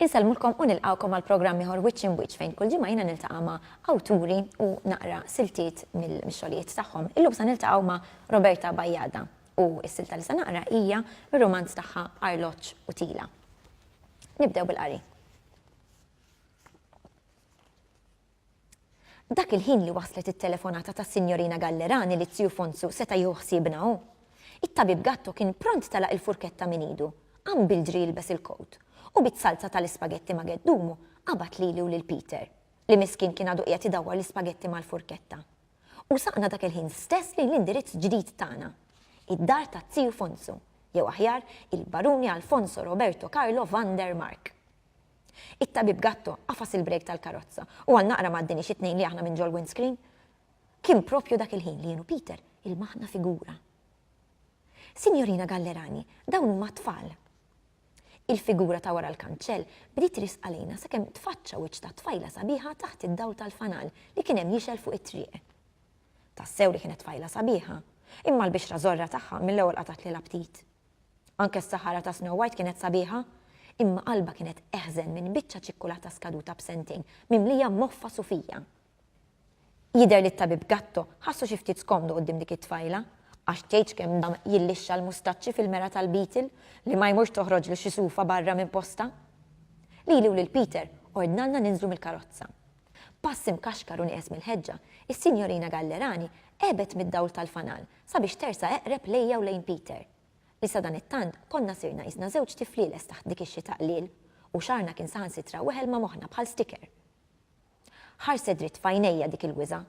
Insellmulkom u nilqawkom għal programm ieħor Wiċċ in Wiċċ fejn kull ġimgħa jiena niltaqa' ma' awturi u naqra siltiet mill-xogħlijiet tagħhom. Illum se niltaqgħu ma' Roberta Bajjada u s-silta li se naqra hija r-romanz tagħha Arloġġ u Tila. Nibdew bil-qari. Dak il-ħin li waslet it-telefonata ta' Sinjorina Gallerani li Zju Fonzu seta' jieħu ħsiebna hu. It-tabib Gatto kien pront telaq il-furketta minn idu, qam bil-ġri jilbes il-kowt, u biz-salza tal-ispagetti ma' geddumu qabad lili u lil Peter, li miskien kien għadu qiegħed idawwar l-ispagetti mal-furketta. U saqna dak il-ħin stess lejn l-indirizz ġdid tagħna, id-dar ta' Ziju Fonsu, jew aħjar, il-Baruni Alfonso Roberto Carlo van der Mark. It-Tabib Gatto għafas il-brejk tal-karozza u għal naqra ma għaddiniex it-tnejn li aħna minn ġol-windscreen. Kien proprju dak il-ħin li jien u Peter ilmaħna figura. Sinjorina Gallerani, dawn huma t-tfal. Il-figura ta' wara l-kanċell bdiet risq għalina sakemm tfaċċa wiċċ ta' tfajla sabiħa taħt id-dawl tal-fanal li kien hemm jixgħel fuq it-triq. Tassew li kienet tfajla sabiħa, imma l-bixra żorra tagħha mill-ewwel qatgħatli l-aptit. Anke s-saħara ta' Snow White kienet sabiħa, imma qalbha kienet eħżen minn biċċa ċikkulata skaduta b'sentejn mimlija moffa sufija. Jidher li t-tabib Gatto ħassu xi ftit skomdu quddiem dik it-tfajla, għax tgħidx kemm dam jillixxa l-mustaċċi fil-mera tal-Beetle li ma jmurx toħroġlu xi sufa barra minn postha. Lili u lil Peter ordnalna ninżlu mill-karozza. B'pass imkaxkar u nieqes mill-ħeġġa, is-Sinjorina Gallerani għebet mid-dawl tal-fanal sabiex tersa' eqreb lejja u lejn Peter, li sadanittant konna sirna qisna żewġ tiflieles taħt dik ix-xita qliel, u xagħarna kien saħansitra weħel ma' moħħna bħal sticker. Ħarset dritt f'għajnejja dik il-wiżgħa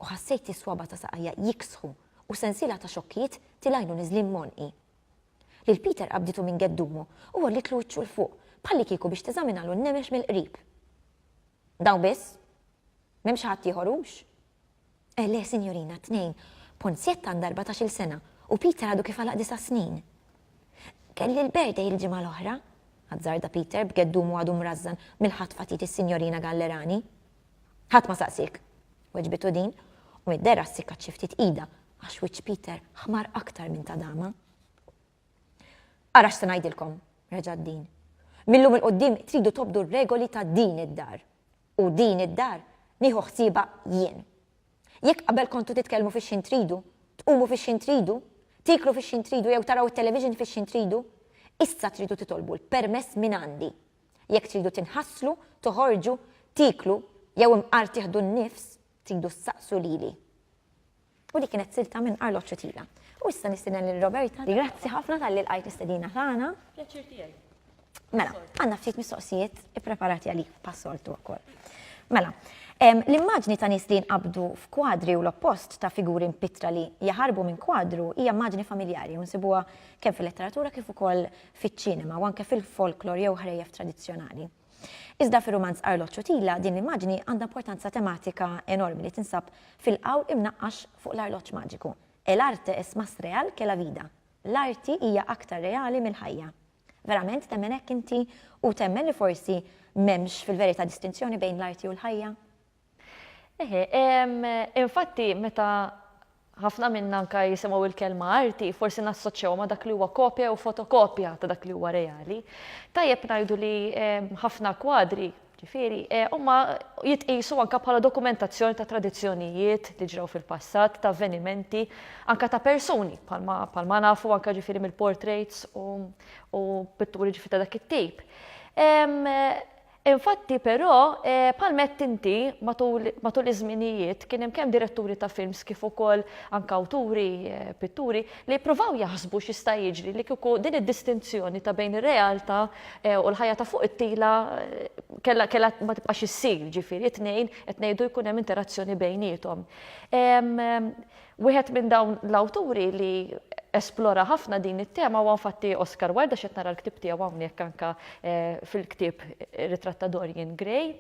u ħassejt is-swaba' ta' saqajja jiksħu u sensiela ta' xokkijiet tilgħinu niżlin m'għonqi. Lil Peter qabditu minn geddumu u għollitlu wiċċu 'l fuq bħallikieku biex teżaminalu n-nemex mill-qrib. Dawn biss? M'hemmx ħaddieħor hux? Eh le, sinjorina, tnejn. Ponzjett għandha erbatax-il sena u Peter għadu kif għalaq disa' snin. Kelli l-birthday il-ġimgħa l-oħra, azzarda Peter b'geddumu għadu mrażżan mill-ħatfa tiegħi s-Sinjorina Gallerani. Ħadd ma saqsiek, weġbitu din, u mid-dehra ssikkat xi ftit idha għax wiċċ Peter ħmar aktar minn ta' dama. Ara x'se ngħidilkom, reġgħet din. Mil-lum 'il quddiem tridu tobdu r-regoli ta' din id-dar. U din id-dar nieħu ħsiebha jien. Jekk qabel kontu titkellmu fix-x'ħin tridu, tqumu fix-x'ħin tridu, tieklu fix-x'ħin tridu jew taraw it-television fix-x'ħin tridu, issa tridu titolbu l-permess mingħandi. Jekk tridu tinħaslu, toħorġu, tieklu jew imqar tieħdu n-nifs, Tridu ssaqsu lili. U dik kienet silta minn Arloġġ u Tila. U issa nistieden lil Roberta. Grazzi ħafna talli lqajt l-istedina tagħna. Pjaċir tiegħi. Mela, għandna ftit mistoqsijiet ippreparati għalik bħas-soltu wkoll. Mela, l-immaġni ta' nies li jinqabdu f'kwadri u l-oppost ta' figuri mpittra li jaħarbu minn kwadru hija immaġni familjari u nsibuha kemm fil-letteratura kif ukoll fiċ-ċinema u anke fil-folklor jew ħrejjef tradizzjonali. Iżda fir-rumanz Arloġġ u Tila din l-immaġni għandha importanza tematika enormi li tinsab fil-qawl imnaqqax fuq l-arloġġ maġiku, El arte es más real que la vida, L-arti hija aktar reali mill-ħajja. Verament temmen hekk inti u temmen li forsi m'hemmx fil-verità distinzjoni bejn l-arti u l-ħajja? Eħe, infatti meta ħafna minna anka jisimgħu il-kelma arti, forsi nassoċċewha ma' dak li huwa kopja jew fotokopja ta' dak li huwa reali. Tajjeb ngħidu li ħafna kwadri Ġifieri, eh, huma jitqisu anka bħala dokumentazzjoni ta' tradizzjonijiet li ġraw fil-passat, ta' avvenimenti, anka ta' persuni, bħalma nafu anka ġifieri mill-portraits u pitturi ġifi ta' dak it-tip. Eh, Infatti, però, bħalma għedt inti, matul, matul iż-żminijiet kien hemm kemm diretturi ta' films kif ukoll anke awturi, pitturi, li jippruvaw jaħsbu x'jista' jiġri li kieku din id-distinzjoni ta' bejn ir-realtà u l-ħajja ta' fuq it-tila kellha, kellha ma tibqax issir, jiġifieri t-tnejn qed ngħidu jkun hemm interazzjoni bejniethom. Wieħed minn dawn l-awturi li esplora ħafna din it-tema huwa infatti Oscar Wilde għax qed nara l-ktieb tiegħu hawnhekk anke fil-ktieb Ritratt ta' Dorian Gray.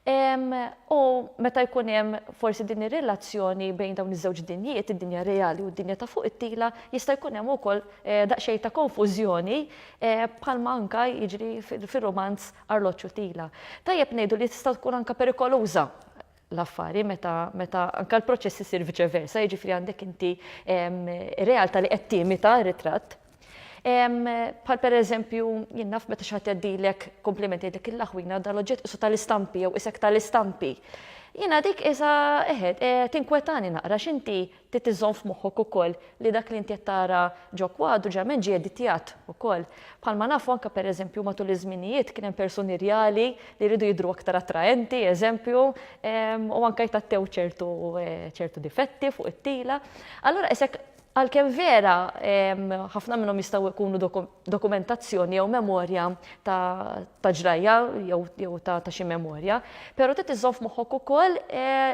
U meta jkun hemm forsi din ir-relazzjoni bejn dawn iż-żewġ dinjiet, id-dinja reali u d-dinja ta' fuq it-tila, jista' jkun hemm ukoll daqsxejn ta' konfużjoni bħalma anke jiġri fir-rumanz Arloġġ u Tila. Tajjeb ngħidu li tista' tkun anke perikoluża l-affari meta meta anke l-proċess isir viċe versa, jiġifieri għandek inti realtà li qed timita r-ritratt. Bħal pereżempju jien naf meta xi ħadd jgħaddilek kumpliment jgħidlek il-laħwina dan l-oġġett qisu tal-istampi jew isek tal-istampi. Jiena dik qisha eħed tinkwetani naqra x'inti Trid iżżomm f'moħħok ukoll li dak li inti qed tara ġo kwadru ġeneralment ġie editjat ukoll. Bħalma nafu anke pereżempju matul iż-żminijiet kien hemm persuni rjali li jridu jidhru aktar attraenti, eżempju, u anke jtgħattew ċertu ċertu difetti fuq it-tila. Allura qis hekk għalkemm vera ħafna minnhom jistgħu jkunu dokumentazzjoni jew memorja ta' ġrajja jew ta' xi memorja, però trid iżżomm f'moħħok ukoll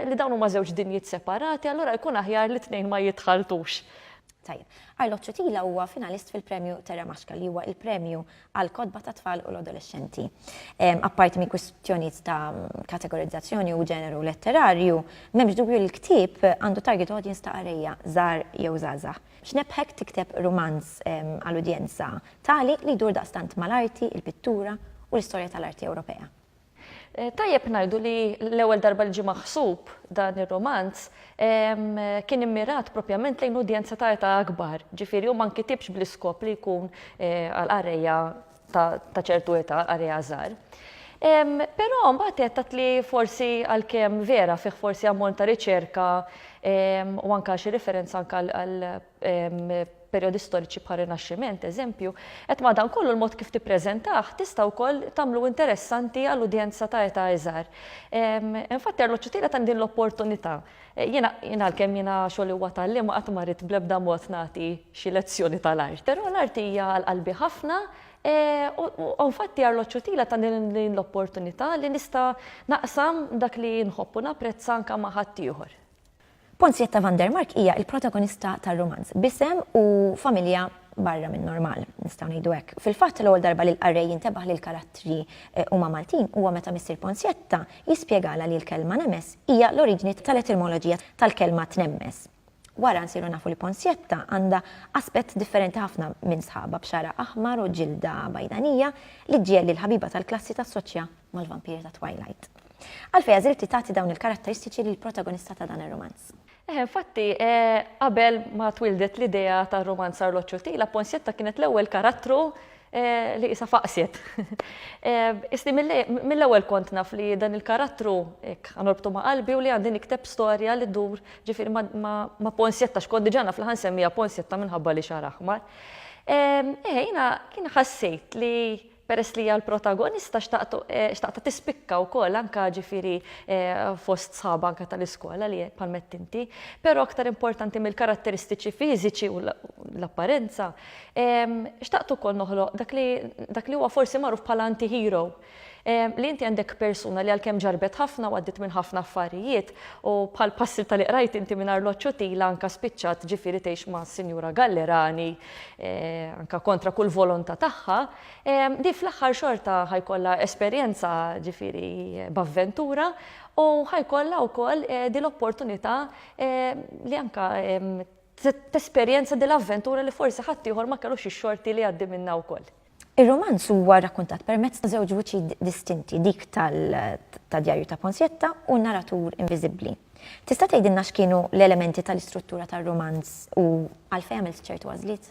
li dawn huma żewġ dinjiet separati, allura jkun aħjar li t-tnejn ma jitħaltux. Tajjeb. Arlo Ciutila huwa finalist fil-Premju Terra Maxka li huwa l-premju għall-kotba tat-tfal u l-adolexxenti. Apparti minn kwistjonijiet ta' kategorizzazzjoni u ġeneru letterarju, m'hemmx dubju li l-ktieb għandu target audience ta' qarejja żgħar jew żgħażagħ. X'nebbħek tikteb rumanz għal udjenza tali li jdur daqstant mal-arti, il-pittura u l-istorja tal-arti Ewropea? Tajjeb ngħidu li l-ewwel darba li ġie maħsub dan ir-rumanz kien immirat propjament lejn udjenza ta' età akbar, ġifieri hu ma nkitibx bl-iskop li jkun għal qarrejja ta' ċertu età għalija żgħar. Però mbagħad għedt li forsi għalkemm vera fih forsi ammont ta' riċerka u anke xi riferenza anke għal perjodi storiċi bħal Rinaxximent, eżempju, qed madankollu l-mod kif tippreżentah tista' wkoll tagħmlu interessanti għal udjenza ta' età iżgħar. Infatti Arloġġu Tielet għandi l-opportunità Jiena, jien għalkemm jiena xogħli huwa tagħlim qatt ma ridt bl-ebda mod nagħti xi lezzjoni tal-art. Però l-art hija għal qalbi ħafna u infatti Arloġġ Utila tani din l-opportunità li nista' naqsam dak li nħobb u napprezza anke ma' ħaddieħor. Ponzietta van der Mark hija l-protagonista tar-rumanz b'isem u familja barra min-normal, nistgħu ngħidu hekk. Fil-fatt, l-ewwel darba li l-qarrej jintebaħ li l-karattri huma Maltin huwa meta missier Ponzietta, Jispjegalha li l-kelma nemes hija l-oriġini tal-etimoloġija tal-kelma tnemmes. Wara nsiru nafu li Ponsietta għandha aspett differenti ħafna minn sħabha b'xagħar aħmar u ġilda bajdanija li ġġiegħel lill-ħabiba tal-klassi tassoċja mal-vampiri ta' Twilight. Għalfejn għażilti tagħti dawn il-karatteristiċi lill-protagonista ta' dan ir-rumanz? Eh, infatti, eh, qabel ma twildet l-idea ta' romanz Arloġġ u Tila, Ponsietta kienet l-ewwel karattru eh, li isa faqsiet. Eh, Isni mill-ewwel kont naf li dan il-karattru ek, għanorbtu ma' qalbi u li għandin ikteb storja li dur ġifir ma' Ponsietta, xkont diġa naf li ħansemmija Ponsietta minħabba li xaraħmar. Eh, jina kien ħassejt li Peress li hija l-protagonista xtaqtha tispikka wkoll anke ġifieri fost sħabha anke tal-iskola li bħalma għedt inti. Però aktar importanti mill-karatteristiċi fiżiċi u l-apparenza, xtaqt ukoll noħloq dak li huwa forsi magħruf bħala anti-hero. Li inti għandek persuna li għalkemm ġarrbet ħafna u għaddiet minn ħafna affarijiet u bħal passilta li qrajt inti mingħajr l-għoċċutila anke spiċċat ġifieri tgħix ma' Sinjura Gallerani anke kontra kull volontà tagħha, di fl-aħħar xorta ħajkollha esperjenza ġifieri b'avventura u ħajkollha wkoll di l-opportunità li anke tesperjenza di l-avventura li forsi ħaddieħor ma kellux ix-xorti li jgħaddi minnha wkoll. Ir-rumanz huwa rrakkuntat permezz ta' żewġ vuċi distinti, dik ta' Djarju ta' Ponsietta u n-naratur inviżibbli. Tista' tgħidilna x'kienu l-elementi tal-istruttura tar-rumanz u għalfejn għamilt ċertu għażliet?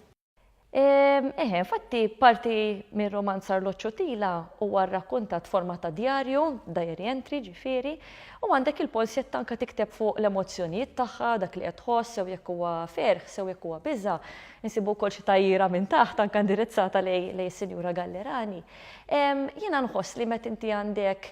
Eħe, infatti parti mir-rumanz Arloġġ u Tila huwa rrakkuntat f'forma ta' djarju, diary entry ġifieri, u għandek lil Ponsietta anke tikteb fuq l-emozzjonijiet tagħha, dak li qed tħoss, sew jekk huwa ferħ, sew jekk huwa biża', Insibu wkoll xi tgħajjira minn taħt anke indirizzata lejn is-Sinjura Gallerani. Jiena nħoss li meta inti għandek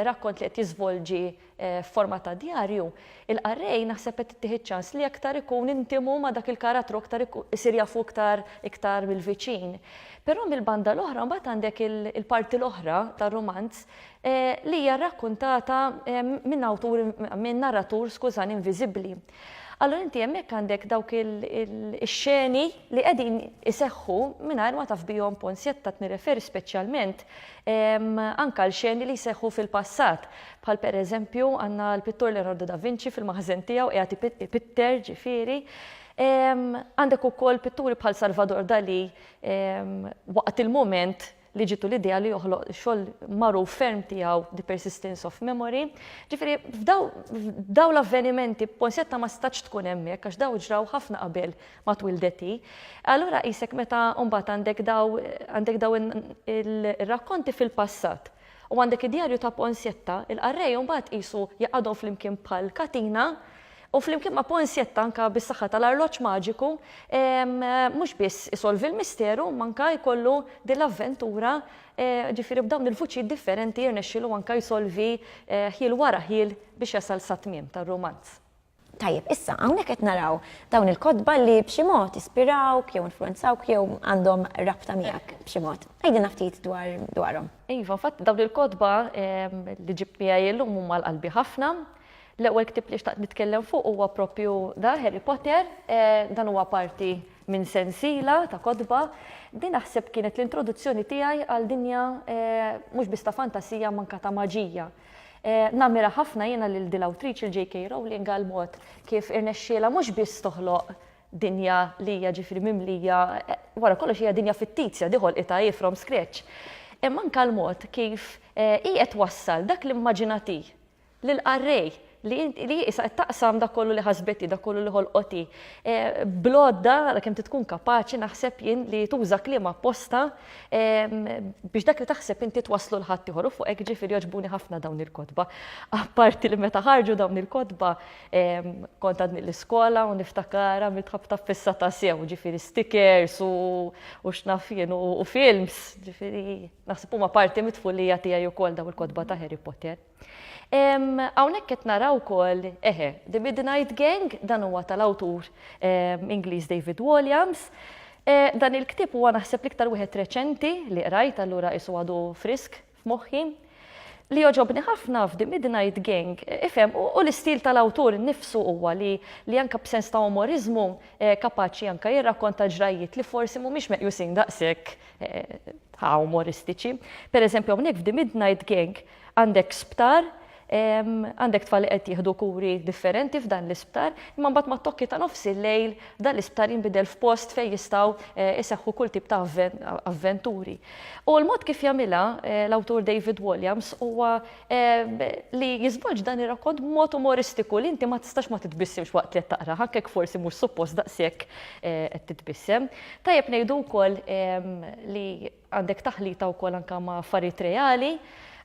rakkont li qed jiżvolġi f'forma ta' djarju, il-qarrej naħseb qed ittih iċ-ċans li aktar ikun intimu ma' dak il-karattru aktar isir jafu iktar iktar mill-viċin. Però mill-banda l-oħra mbagħad għandek il-parti l-oħra tar-rumanz li hija rrakkuntata minn awtur minn narratur skużani inviżibbli. Allura inti hemmhekk għandek dawk ix-xeni li qegħdin iseħħu mingħajr ma taf bihom pons jattat nirreferi speċjalment ehm, anka l-xeni li jseħħu fil-passat. Bħal pereżempju għandna l-pittur Leonardo da Vinci fil-maħżen tiegħu qiegħed ipitter ġifieri. Ehm, għandek ukoll pitturi bħal Salvador Dali ehm, waqt il-mument li ġitu l-idea li joħloq xogħol magħruf ferm tiegħu The Persistence of Memory. Ġifieri f'daw l-avvenimenti Ponsetta ma stax tkun hemmhekk għax daw ġraw ħafna qabel ma twildeti. Allura qisek meta mbagħad għandek daw għandek daw ir-rakkonti fil-passat U għandek id-djarju ta' Ponsietta, il-qarrej imbagħad qisu jgħaqqadhom flimkien bħal katina, u flimkien ma' Ponsietta anke bis-saħħa tal-arloġġ maġiku, mhux biss isolvi l-misteru, imma anke jkollu din l-avventura, ġifieri b'dawn il-vuċijiet differenti jirnexxilu anke jsolvi ħjiel wara ħjiel biex jasal sat-tmiem tar-rumanz. Tajjeb, issa, hawnhekk qed naraw dawn il-kotba li b'xi mod ispirawk jew influwenzawk jew għandhom rabta miegħek b'xi mod. Għidilna ftit dwar dwarhom. Iva, fatt dawn il-kotba li ġibt miegħi illum huma għal qalbi ħafna. L-ewwel ktieb li xtaqt nitkellem fuq huwa proprju da, Harry Potter. Dan huwa parti minn sensiela ta' kotba. Din naħseb kienet l-introduzzjoni tiegħi għal dinja mhux biss ta' fantasija imma anke ta' maġija. Nammira ħafna jiena lil dil awtriċi l-JK Rowling għal mod kif irnexxielha mhux biss toħloq dinja li hija ġifieri mimlija, wara kollox hija dinja fittizja di ħolqitha hi from scratch, imma anke l-mod kif hi qed twassal dak l-immaġinati lil qarrej li int li issa qed taqsam dak kollu li ħasbet hi, dak kollu li ħolqot hi. E, Blodda għal kemm tkun kapaċi naħseb jien li tuża kliem apposta e, biex dak li taħseb inti twaslu l ħadd ieħor u fuq hekk ġifieri jogħġbuni ħafna dawn il-kotba. Apparti li meta ħarġu dawn il-kotba e, kont għadni l-iskola u niftakar għamilt ħabta fissa ta' sew, ġifieri stickers u, u x'naf jien u, u films, ġifieri naħseb huma parti mit-tfulija tiegħi wkoll dawn il-kotba ta' Harry Potter. Hawnhekk qed naraw ukoll, eħe, The Midnight Gang, dan huwa tal-awtur Ingliż David Walliams. Eh, dan il-ktieb huwa naħseb l-iktar wieħed reċenti li qrajt allura isu għadu frisk f'moħħi. Li joġobni ħafna f'Di Midnight Gang, eh, ifhem, u l-istil tal-awtur nifsu huwa li li anka b'sens ta' umorizmu eh, kapaċi anka jirrakkonta ġrajiet li forsi mhumiex meqjusin daqshekk ta' umoristiċi. Per eżempju, hawnhekk f'Di Midnight Gang, Għandek sptar, għandek tfal li qed jieħdu kuri differenti f'dan l-isptar, imma mbagħad mat-tokki ta' nofs il-lejl dan l-isptar jinbidel f'post fejn jistgħu jseħħu kull tip ta' avventuri. U l-mod kif jagħmilha l-awtur David Walliams huwa li jiżvolġ dan ir-rakkont b'mod umoristiku li inti ma tistax ma titbissimx waqt li qed taqrah, anke jekk forsi mhux suppost daqshekk qed titbissem. Tajjeb ngħidu wkoll li Għandek taħlita wkoll anke ma' affarijiet reali.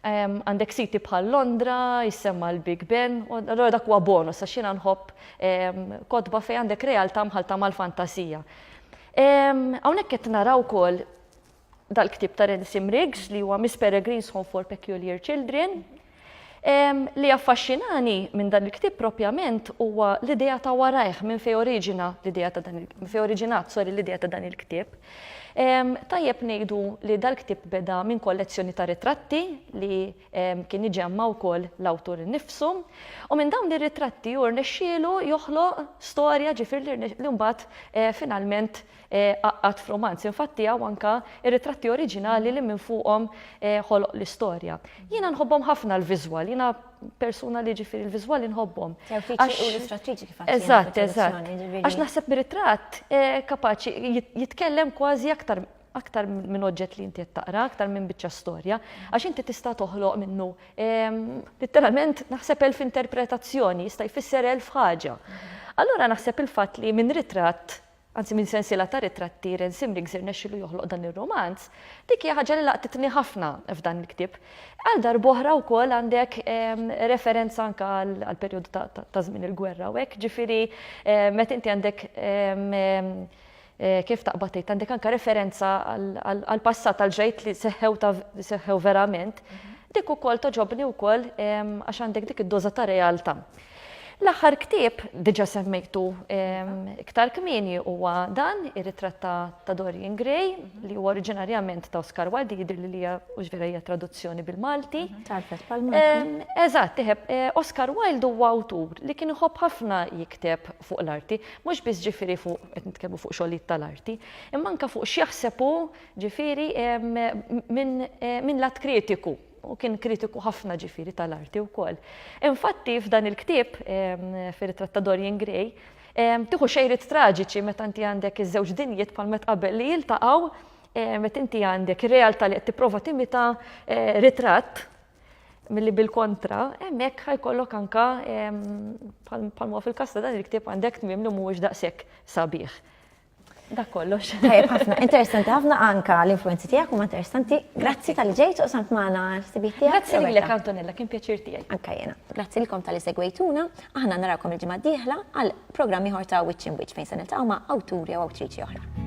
Għandek siti bħal Londra, jissemma' l-Big Ben, u allura dak huwa bonus għax jiena nħobb kotba fejn għandek realtà mħallta mal-fantasija. Hawnhekk qed nara wkoll dal-ktieb ta' Rensim Riggs li huwa Miss Peregrine's Home for Peculiar Children. Li jaffaxxinani minn dan il-ktieb propjament huwa l-idea ta' warajh minn fejn oriġina l-idea ta' dan fejn oriġinat sorry l-idea ta' dan il-ktieb. Tajjeb ngħidu li dal-ktieb beda minn kollezzjoni ta' ritratti li kien iġemma' wkoll l-awtur innifsu u minn dawn ir-ritratti hu rnexxielu joħloq storja ġifieri li mbagħad finalment Għaqad f'rumanz, infatti tiegħu anke r-ritratti oriġinali li minn fuqhom ħoloq l-istorja. Jiena nħobbhom ħafna l-viżwal, jiena persuna li ġifieri l-viżwali nħobbhom. L-uffiċċji illustrattriċi kif għedt. Eżatt, eżatt. Għax naħseb mir-ritratt kapaċi jitkellem kważi aktar aktar minn oġġett li inti qed taqra, aktar minn biċċa storja, għax inti tista' toħloq minnu litteralment naħseb elf interpretazzjoni, jista' jfisser elf ħaġa. Allura naħseb il-fatt li minn ritratt anzi minn sensiela ta' ritratti Ren Simriggs irnexxielu joħloq dan ir-rumanz, dik hija ħaġa li laqtitni ħafna f'dan il-ktieb. Għal darb'oħra wkoll għandek referenza anke għall-perjodu ta' żmien il-gwerra u hekk, ġifieri meta inti għandek kif taqbad tgħid, għandek anke referenza għall-passat għal ġrajt li seħħew ta' seħħew verament, dik ukoll togħġobni wkoll għax għandek dik id-doża ta' realtà. L-aħħar ktieb, diġà semmejtu iktar kmieni, huwa dan, ir-ritratt ta' Dorian Gray, li huwa oriġinarjament ta' Oscar Wilde, jidher li hija mhux vera hija traduzzjoni bil-Malti. Mhm, Tarfet pal Eżatt, tiħeb, eh, Oscar Wilde huwa awtur li kien iħobb ħafna jikteb fuq l-arti, mhux biss ġifieri fuq qed nitkellmu fuq xogħlijiet tal-arti, imma anke fuq x'jaħseb hu ġifieri eh, minn lat kritiku. u kien kritiku ħafna ġifieri tal-arti wkoll. Infatti f'dan il-ktieb, fir-ritratt ta' Dorian Gray, tieħu xejriet traġiċi meta inti għandek iż-żewġ dinjiet bħal met qabel li jiltaqgħu meta inti għandek ir-realtà li qed tipprova timita ritratt milli bil-kontra, hemmhekk ħajkollok anka bħal huwa fil-każ ta' dan il-ktieb għandek tmiem li mhuwiex daqshekk sabiħ. Dak kollox. Tajjeb ħafna, interessanti ħafna anka l-influenzi tiegħek huma interessanti. Grazzi tal ġejt u samt magħna sibiet tiegħek. Grazzi lilek Antonella, kien pjaċir tiegħi. Anka jiena. Grazzi lilkom tal-li segwejtuna, aħna narakom il-ġimgħa d-dieħla għal programm ieħor ta' Witch in Witch fejn se niltaqgħu ma' awturi u awtriċi oħra.